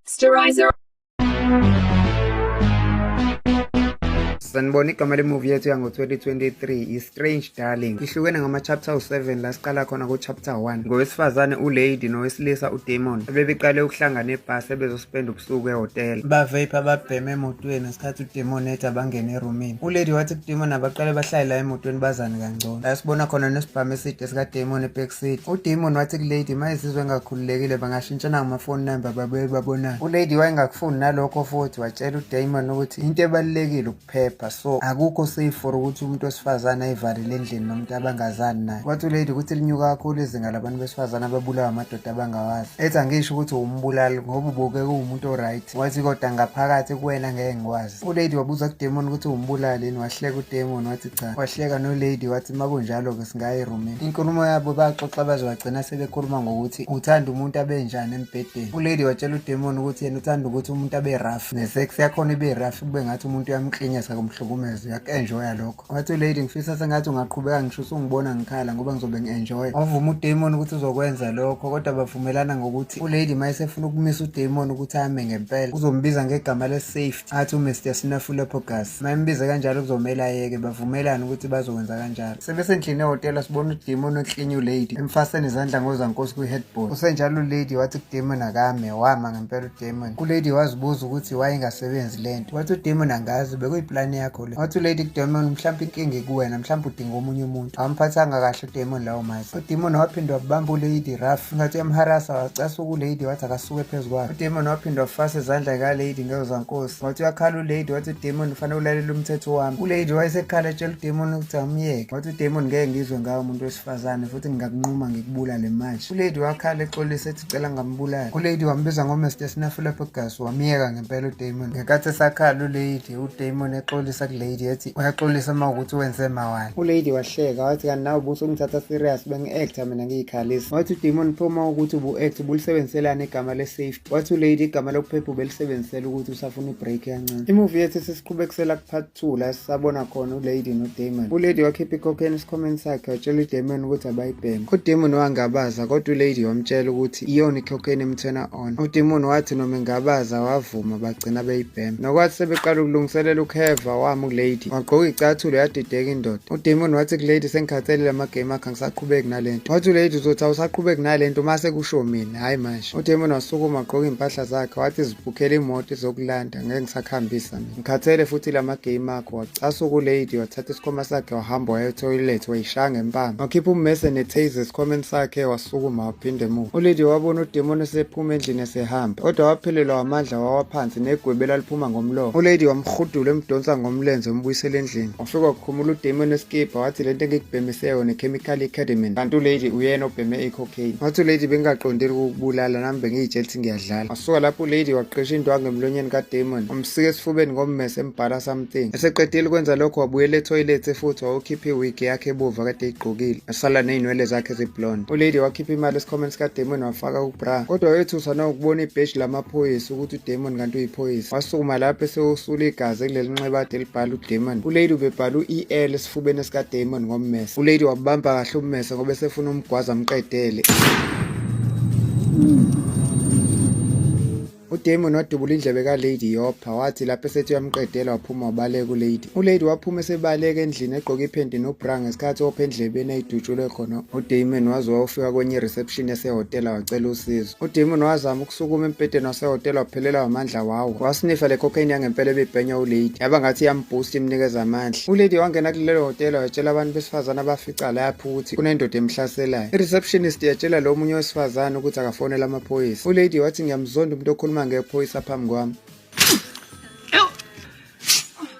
Sterilizer. sanibona igama lemuvi yethu yango-2023 i-strange darling ihlukene ngama-chapter u-7 la siqala khona ku-chapter 1 ngowesifazane ulady nowesilisa udamon abebeqale ukuhlangana ebhasi ebezospenda ubusuku ehhotela baveyipha babheme emotweni sikhathi udemoni ethi abangene erumini ulady wathi kudemoni abaqale bahlale la emotweni bazane kangcono la sibona khona nesibhamu eside sikademoni ebackseat udemoni wathi kulady ma izizwe engakhululekile bangashintshana ngamafoni number babuye babonane ulady wayengakufuni nalokho futhi watshela udemoni ukuthi into ebalulekile ukuphepha so akukho safe for ukuthi umuntu wesifazane ayivalele endlini nomuntu abangazani naye wathi ulady ukuthi linyuka kakhulu izinga labantu besifazane ababulawa amadoda abangawazi ethi angisho ukuthi wumbulali ngoba ubuke kuwumuntu oright wathi kodwa ngaphakathi kuwena ngeke ngikwazi ulady wabuza kudemon ukuthi umbulali yini wahleka udemon wathi cha wahleka nolady wathi uma kunjalo-ke singaye erumini inkulumo yabo baxoxa baze wagcina sebekhuluma ngokuthi uthanda umuntu abenjani embhedeni ulady watshela udemon ukuthi yena uthanda ukuthi umuntu abe rough nesex yakhona ibe rough kube ngathi umuntu uyamklinyesa kumhlukumeza uyaku-enjoya lokho wathi lady ngifisa sengathi ungaqhubeka ngisho usungibona ngikhala ngoba ngizobe ngi-enjoya wavuma udemon ukuthi uzokwenza lokho kodwa bavumelana ngokuthi ulady ma esefuna ukumisa udemon ukuthi ame ngempela uzombiza ngegama le-safety athi umr snafulepogas ma embize kanjalo kuzomele ayeke bavumelane ukuthi bazokwenza kanjalo sebesendlini ehhotela sibona udemon eklinye ulady emfaseni izandla ngozankosi kwi-headboard usenjalo ulady wathi kudemon akame wama ngempela udemon kulady wazibuza ukuthi wayengasebenzi le nto wathi udemon angazi bekuyiplani yakho wathi ulady demon mhlawumpe inkinga ikuwena mhlawumpe udinga omunye umuntu awamphathanga kahle udemon lawo mazi udemon waphinde wabamba ulady rough ngathi uyamharasa wacasa ukulady wathi akasuke phezu kwakhe udemon waphinde wafasa izandla kalady ngezo zankosi wathi uyakhala ulady wathi udemon ufanele ulalela umthetho wami ulady wayesekhala etshela udemon ukuthi amyeke wathi udemon ngeke ngizwe ngawo umuntu wesifazane futhi ngingakunquma ngikubulale manje ulady wakhala exolisa ethi cela ngambulala ulady wambiza ngomester sinafulapho gas wamyeka ngempela udemon ngenkathi esakhala ulady udamon exolisa kulady ethi uyaxolisa uma ukuthi wenze mawani ulady wahleka wathi kanti nawe buso ungithatha serious bengi-acta mina ngiyikhalisa wathi udamon phoma ukuthi ubu-act ubulisebenziselani igama le-safety wathi ulady igama lokuphepha ubelisebenzisela ukuthi usafuna ibreak yancane imuvi yethu sesiqhubekisela kupart two la sisabona khona ulady nodamon ulady wakhipha ikhokheni esikhomeni sakhe watshela udamon ukuthi abayibheme udamon wangabaza kodwa ulady wamtshela ukuthi wathi iyona ikhokheni emthena on udimoni wathi noma ingabaza wavuma bagcina beyibhema nokwathi sebeqala ukulungiselela ukuheva wami ukulady wagqoka icathulo yadideka indoda udimoni wathi kulady sengikhathalele amagame akhe angisaqhubeki nale nto wathi ulady uzothi awusaqhubeki nale nto uma sekusho mina hhayi manje udimoni wasukuma wagqoka iy'mpahla zakhe wathi zibhukhele imoto izokulanda ngeke ngisakuhambisa mina Ngikhathele futhi lama game akho wacasa ukulady wathatha isikhoma sakhe wahamba waya etoilet wayishaya ngempama wakhipha ummese netaser esikhomeni sakhe wasukuma waphinde emuva ulady wabona udemoni esephuma endlini esehamba kodwa waphelelwa wamandla wawa phansi negwebe laliphuma ngomlomo ulady wamhudula emdonsa ngomlenze umbuyisela endlini wafika wakhumula udemoni esikibha wathi lento engikubhemise yona ichemical academy kanti ulady uyena obheme icocaine wathi ulady bengingaqondeli ukukubulala nami bengiyitshela ukuthi ngiyadlala suka lapho ulady waqesha indwangu emlonyeni kadamon wamsika esifubeni ngommese embhala something eseqedile ukwenza lokho wabuyela ethoyilethi futhi wawukhipha iwigi yakhe ebuva kade eyigqokile asala neynwele zakhe eziblonde ulady wakhipha imali esikhomeni sikadamon wafaka ubra kodwa wayethuswa nawukubona ibheshi lamaphoyisa ukuthi udamon kanti uyiphoyisa wasukuma lapho esewusula igazi kuleli nxeba ade libhala udamon ulady ubebhala u-el esifubeni esikadamon ngommese ulady wabamba kahle ummese ngoba esefuna umgwaza amqedele udamon wadubula indlebe kalady yopha wathi lapho esethi uyamqedela waphuma wabaleka ulady ulady waphuma esebaleka endlini egqoke iphenti nobra ngesikhathi opha endlebeni ayidutshulwe khona udamon waze wawufika kwenye ireception yasehhotela wacela usizo Udemon wazama ukusukuma embhedeni wasehhotela waphelelwa amandla wawo. Wasinifa le cocaine yangempela ebibhenya uLady. Yaba ngathi iyamboost imnikeza amandla. ULady wangena kulelo hhotela watshela abantu besifazane abafica lapho ukuthi kunendoda emhlaselayo. I-receptionist yatshela lo munye wesifazane ukuthi akafonele amaphoyisa. ULady wathi ngiyamzonda umuntu okhuluma ngephoyisa phambi kwami.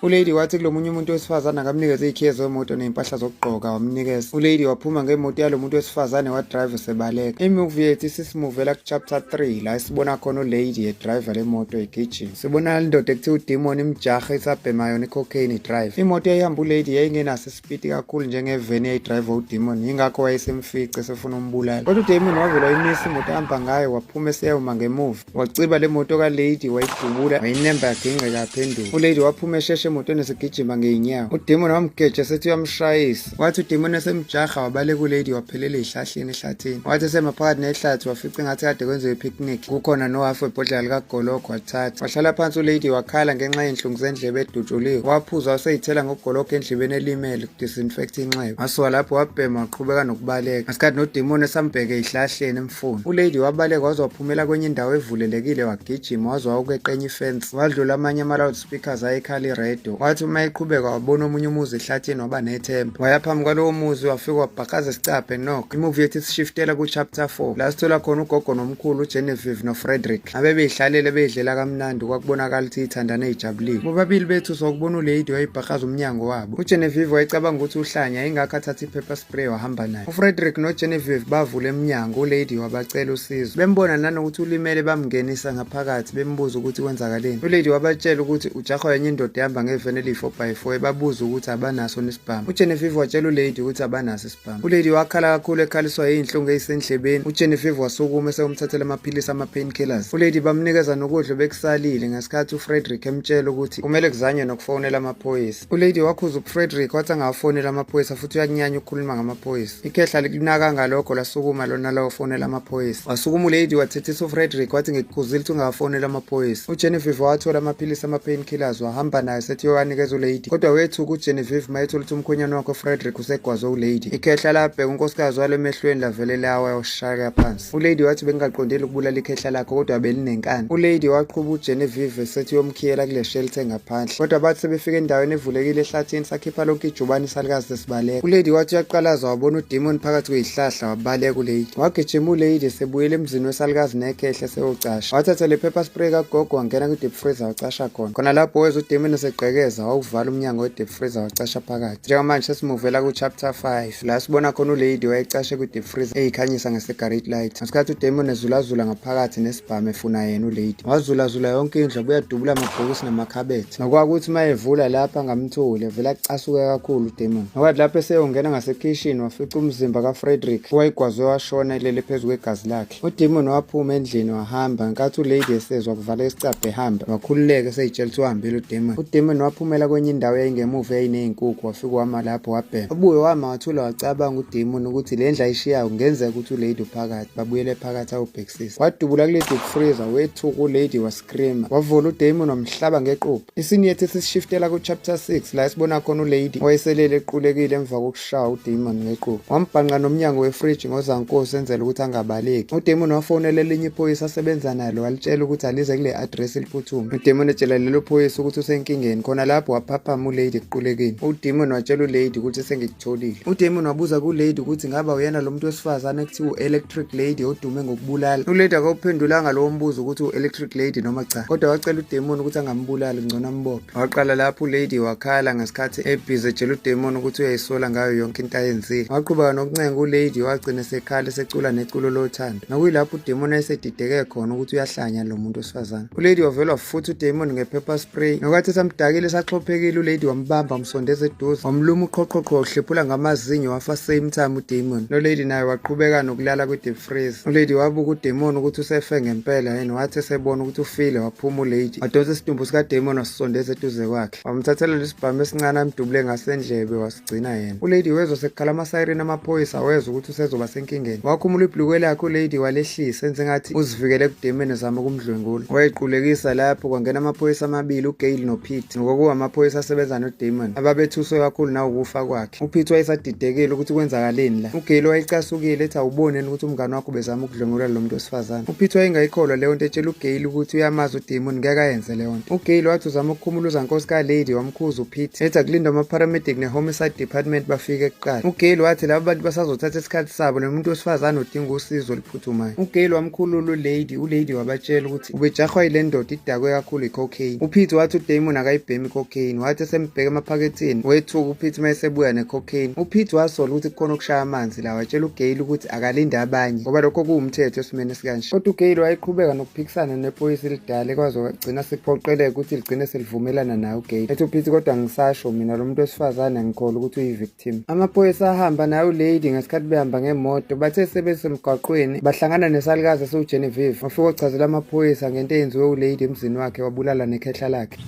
ulady wathi kulo munye umuntu wesifazane akamnikeze iykhiye zemoto ney'mpahla zokugqoka wamnikeza ulady waphuma ngemoto yalo muntu wesifazane wadrive sebaleka imuvi yethu isisimuvela kuchapter 3 la esibona khona ulady yedriva le moto igijima sibona indoda ekuthiwa udimoni imjaha isabhema yona icocaine drive imoto eyihamba ulady yayingenaso fiti kakhulu njengeveni eyayidrayiva udemon yingakho wayesemfice esefuna umbulala kodwa udemon wavele wayimisa imoto ahamba ngayo waphuma eseyawuma ngemuva waciba le moto kalady wayidubula wayinemba yagingqeka yaphenduka ulady waphuma esheshe emotweni esigijima ngeyinyawo udemon wamgeja sethi uyamshayisa wathi udemon esemjaha wabaleka ulady waphelela ezihlahleni ehlathini wathi esemaphakathi nehlathi wafica engathi kade kwenziwe i-picnic kukhona nohafu webhodlela likagologo wathatha wahlala phansi ulady wakhala ngenxa yenhlungu zendlebe edutshuliwe waphuza waseyithela ngogologo endlebeni elimele kudisinfect inxeba wasuka lapho wabhema waqhubeka nokubaleka ngesikhathi nodimoni esambheke ihlahleni emfuni ulady wabaleka waze waphumela kwenye indawo evulelekile wagijima waze wawukeqenye ifensi wadlula amanye ama speakers ayekhala iredo wathi uma eqhubeka wabona omunye umuzi ehlathini waba nethemba waya phambi kwalowo muzi wafika wabhakaza isicabhe nok imuvi yethu isishiftela ku-chapter 4 la sithola khona ugogo nomkhulu ugenevive nofrederick abebeyihlalele beyidlela kamnandi kwakubonakala ukuthi ithandane ijabulile bobabili bethu sokubona uleyidi wayibhakaza umnyango wabo ugenevive wayecabanga ukuthi uhlanya ingakho athatha i-paper spray wahamba naye ufrederick nogenevive bavula emnyango uleyidi wabacela usizo bembona nanokuthi ulimele bamngenisa phakathi bembuza ukuthi kwenzakaleni ulady wabatshela ukuthi ujahwa yenye indoda ehamba ngeveni eliyi-four by four ebabuza ukuthi abanaso nisibhamu ugenevive watshela ulady ukuthi abanaso isibhamu ulady wakhala kakhulu ekhaliswa yiy'nhlungu eyisendlebeni ugenevive wasukuma esewumthathela amaphilisi ama-pain killers ulady bamnikeza nokudla obekusalile ngesikhathi ufrederick emtshela ukuthi kumele kuzanywe nokufonela amaphoyisa ulady wakhuza ufrederick wathi angawafonela amaphoyisa futhi uyakunyanya ukukhuluma ngamaphoyisa ikhehla likunaka ngalokho lasukuma lona lawafonela amaphoyisa wasukuma ulady wathethisa ufrederick wathi ngikukhuzile ukuthi ungawafonela amaphoyisa ugenevieve wathola amaphilisi ama-pain killers wahamba nayo sethi yowanikeza ulady kodwa wethuka ugenevieve mayethola ukuthi umkhwenyana wakho ufrederick usegwazwe ulady ikhehla labheka unkosikazi walo emehlweni lavele lawa yawushaya phansi Ulady wathi bengingaqondeli ukubulala ikhehla lakhe kodwa belinenkani. Ulady waqhuba uGenevieve esethi uyomkhiyela kule shelter engaphandle. Kodwa bathi sebefika endaweni evulekile ehlathini sakhipha lonke ijubane isalikazi lesibaleka. Ulady wathi uyaqalaza wabona udemon phakathi kwezihlahla wabaleka ulady. Wagijima ulady sebuyele emzini wesalikazi nekhehla seyocasha. Wathatha le pepper spray kagogo wangena kwi-deep freezer wacasha khona. Khona lapho wezwa udemon esegqekeza wawuvala umnyango we-deep freezer wacasha phakathi. Njengamanje sesimuvela ku-chapter 5. la sibona khona ulady wayecashe kwi-deep freezer eyikhanyisa nge-cigarette light ngesikhathi udamon ezulazula ngaphakathi nesibhamu efuna yena ulady wazulazula yonke indlu buyadubula amabhokisi namakhabethe nokwakuthi uma evula lapha ngamtholi evele acasuke kakhulu udamon nokwathi lapho eseyongena ngasekhishini wafica umzimba kafrederick owayegwazwe washona elele phezu kwegazi lakhe udemon waphuma endlini wahamba nkathi ulady esezwa kuvala isicabha ehamba wakhululeka eseyitshela ukuthi uhambile udemon udemon waphumela kwenye indawo yayingemuva yayineyinkukhu wafika wama lapho wabhema ubuye wama wathula wacabanga udemon ukuthi le ndlu ayishiyayo kungenzeka ukuthi ulady uphakathi babuyele phakathi awubhekisisa wadubula kulady ukufriza wethuka ulady was Grima wavula uDamon wamhlaba ngequpha. Isini yethu sishiftela kuchapter 6 la esibona khona ulady owayeselele equlekile emva kokushaya uDamon ngequpha. Wambhanqa nomnyango wefridge ngozankosi enzela ukuthi angabaleki. UDamon wafonela elinye iphoyisa asebenza nalo walitshela ukuthi alize kule address eliphuthuma. UDamon etshela lelo phoyisa ukuthi usenkingeni. Khona lapho waphaphama ulady equlekile. UDamon watshela ulady ukuthi sengi Tholile. UDamon wabuza kulady ukuthi ngaba uyena lo muntu wesifazane ekuthiwa u-electric lady odume ngokubulala. Ulady akawuphendulanga lowo mbuzo ukuthi u-electric lady noma cha. Kodwa wacela uDamon ukuthi angambulali ngcono ambophe. Waqala lapho ulady wakhala ngesikhathi ebhizi etshela uDamon ukuthi uyayisola ngayo yonke into ayenzile. Waqhubeka nokuncenga ulady wagcina sekhala secula neculo lothando. Nokuyilapho uDamon ayesedideke khona ukuthi uyahlanya lo muntu wesifazane. ulady wavelwa futhi udemon ngephepha spray nokwathi samdakile esaxhophekile ulady wambamba wamsondeza eduze wamluma uqhoqhoqho uhlephula ngamazinyo wafa same time udemon lolady naye waqhubeka nokulala kwi-deep freeze ulady wabuka udemon ukuthi usefe ngempela yena wathi esebona ukuthi ufile waphuma ulady wadonsa isidumbu sikademon wasisondeza eduze kwakhe wamthathela lesibhamu esincane amdubule ngasendlebe gcina yena ulady wezwa sekukhala amasayireni amaphoyisa wezwa ukuthi usezoba senkingeni wakhumula ibhlukwe lakhe ulady walehlisa enze ngathi uzivikele ekudemeni zama ukumdlwengula wayequlekisa lapho kwangena amaphoyisa amabili ugail nopete nokokuba amaphoyisa asebenza nodamon ababethuswe kakhulu nawukufa kwakhe upete wayesadidekile ukuthi kwenzakaleni la ugail wayecasukile ethi awuboneni ukuthi umngane wakho bezama ukudlwengula lo muntu wesifazane upete wayengayikholwa leyo nto etshela ugail ukuthi uyamazi udamon ngeke ayenze leyo nto ugail wathi uzama ukukhumula uzankosi kalady Mkhuzu Pete ethi akulinda ama-paramedic ne-homicide department bafike kuqala ugale wathi laba bantu basazothatha isikhathi sabo lo muntu wesifazane odinga usizo oluphuthumayo ugale wamkhulula ulady ulady wabatshela ukuthi ubejahwa yile ndoda idakwe kakhulu i-cocaine upete wathi udamon akayibhemi i-cocaine wathi esembheka emaphaketheni wethuka upete uma esebuya ne-cocaine upete wasola ukuthi kukhona okushaya amanzi la watshela ugale ukuthi akalinde abanye ngoba lokho kuwumthetho esimeni esikanje kodwa ugale wayeqhubeka nokuphikisana nephoyisa elidala ekwazi gcina siphoqeleka ukuthi ligcine selivumelana naye ugate ethi uphithi kodwa ngisasho mina lo muntu wesifazane ngikhola ukuthi uyi-victim amaphoyisa ahamba naye ulady ngesikhathi behamba ngemoto bathe sebesemgwaqweni bahlangana nesalukazi esiwugenevive wafika ochazela amaphoyisa ngento eyenziwe ulady emzini wakhe wabulala nekhehla lakhe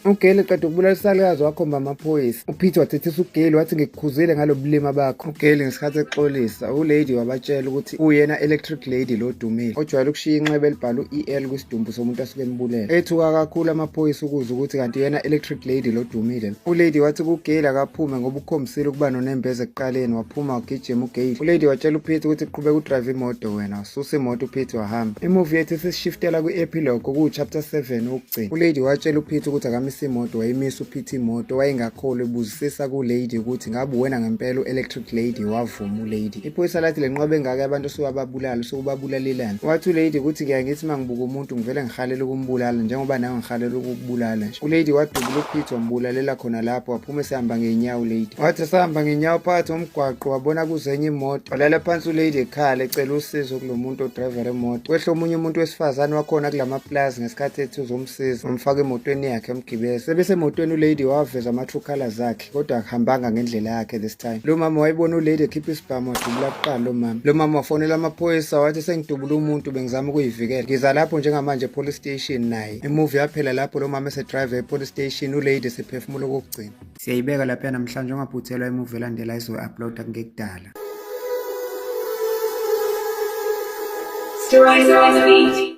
Ugeli qeda ukubulala isalukazi wakhomba amaphoyisa. UPeter wathethisa ugeli wathi ngikukhuzile ngalo bulima bakho. Ugeli ngesikhathi exolisa, ulady wabatshela ukuthi uyena electric lady lo dumile ojwayele ukushiya inxeba elibhala u-EL kwisidumbu somuntu asuke embulele. Ethuka kakhulu amaphoyisa ukuza ukuthi kanti yena electric lady lo dumile. Ulady wathi kugeli akaphume ngoba ukhombisile ukuba nonembeza ekuqaleni waphuma wagijima ugeli. Ulady watshela uPeter ukuthi qhubeka udrive imoto wena, ususa imoto uPeter wahamba. Imovie yethu sesishiftela kwi-epilogue okuwu-chapter 7 Gcina. ULady watshela uPeter ukuthi akamisa imoto wayimisa uPeter imoto wayengakholwa ebuzisisa kuLady ukuthi ngabe wena ngempela u-electric lady wavuma uLady. Iphoyisa lathi le nqobe engaka abantu osuwababulala usukubabulalelani. Wathi uLady ukuthi ngiya ngithi uma ngibuka umuntu ngivele ngihalela ukumbulala njengoba nawe ngihalela ukukubulala nje. ULady wadubula uPeter wambulalela khona lapho waphuma esehamba ngey'nyawo uLady. Wathi esahamba ngey'nyawo phakathi ngomgwaqo wabona kuzenye imoto. Walala phansi uLady ekhala ecela usizo kulo muntu odrayivela imoto. Kwehle omunye umuntu wesifazane wakhona kula mapulazi isikhathi ethi uzomsiza umfaka emotweni yakhe emgibele sebese emotweni ulady waveza ama-true colors akhe kodwa akuhambanga ngendlela yakhe this time lo mama wayibona ulady ekhipha isibhamu wadubula kuqala lo mama lo mama wafonela amaphoyisa wathi sengidubula umuntu bengizama ukuyivikela ngiza lapho njengamanje epolice station naye imuvi yaphela lapho lo mama esedrive epolice station ulady esephefumula okokugcina siyayibeka lapha namhlanje ungaphuthelwa imuvi elandela izoyi-uploada kungekudala Stories on the beat.